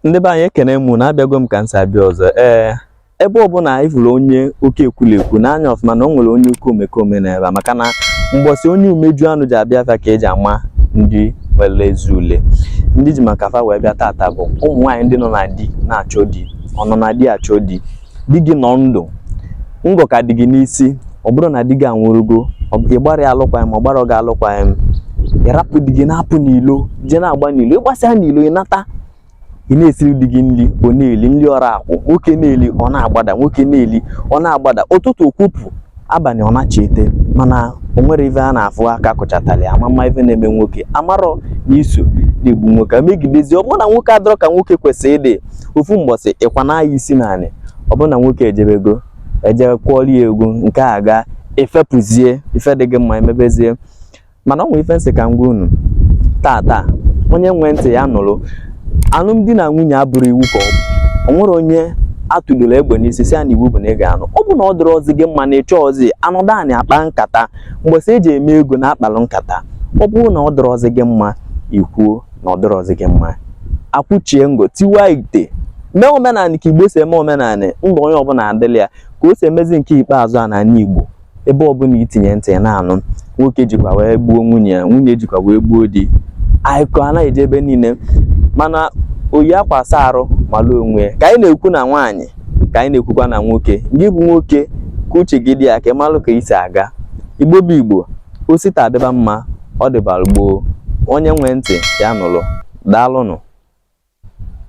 ndị be anyị ekene m unu abịago m ka m si abịa ọzọ ee ebe ọbụla ị fụrụ onye oke ekwulekwu nee anya ọfụma na o nwere onye oke omekome nọ ebe a maka na mgbọsị onye umeju anụ ji abịa afịa ka eji ama ndị nwere eze ule ndị ji maka fa wee bịa tata bụ ụmụ nwaanyị ndị nọ na di na-achọ di ọnọ na di achọ di di gị nọ ndụ ngọ ka dị gị n'isi ọ bụrọ na di gị anwụrụgo ị gbara ya alụkwaghịm ọ gbara gị alụkwaghịm ị rapụ di gị na-apụ n'ilo jee na-agba n'ilo ị gbasịa n'ilo ị nata ị na-esiri di gị nri ọ na-eli nri ọra akwụ nwoke na-eli ọ na-agbada nwoke na-eli ọ na-agbada ụtụtụ okwupụ abalị ọ na-achị ete mana o nwere ife a na-afụ aka kụchatali amama ife na-eme nwoke amarọ na i so na-egbu nwoke megidezi ọ bụrụ na nwoke adịrọ ka nwoke kwesịrị ịdị ofu mgbọsị ị kwanaa ya isi n'anị ọ bụrụ na nwoke ejebego eje kwọlie egwu nke a gaa i fepụzie ife dị gị mma emebezie mana o nwere ife m sị ka m gwa unu tata onye nwee ntị ya nụrụ alụmdi na nwunye abụrọ iwu ka ọ bụ o nwere onye atụdoro egbe n'isi sị ya na iwu bụ na ị ga-anụ ọ bụ na ọ dịrọzi gị mma na ị chọrọzi anọdụ anị akpa nkata mgbọsị eji eme ego na akpalụ nkata ọ bụrụ na ọ dịrọzi gị mma i kwuo na ọ dịrọzi gị mma akwụchie ngọ tiwa ite mee omenanị ka igbo si eme omenanị ndụ onye ọbụla adịlị ya ka o si emezi nke ikpeazụ a n'ala igbo ebe ọbụla itinye ntị ị na-anụ nwoke jikwa wee gbuo nwunye ya nwunye jikwa wee gbuo di akụkọ a na-eje ebe niile mana oyi akwa asa arụ malụ onwe ya ka anyị na-ekwu na nwaanyị ka anyị na-ekwukwa na nwoke gị bụ nwoke ka uche gị dị ya ka ị malụ ka i si aga igbo bụ igbo o si taa dịba mma ọ dịbara gboo onye nwee ntị ya nụrụ daalụnụ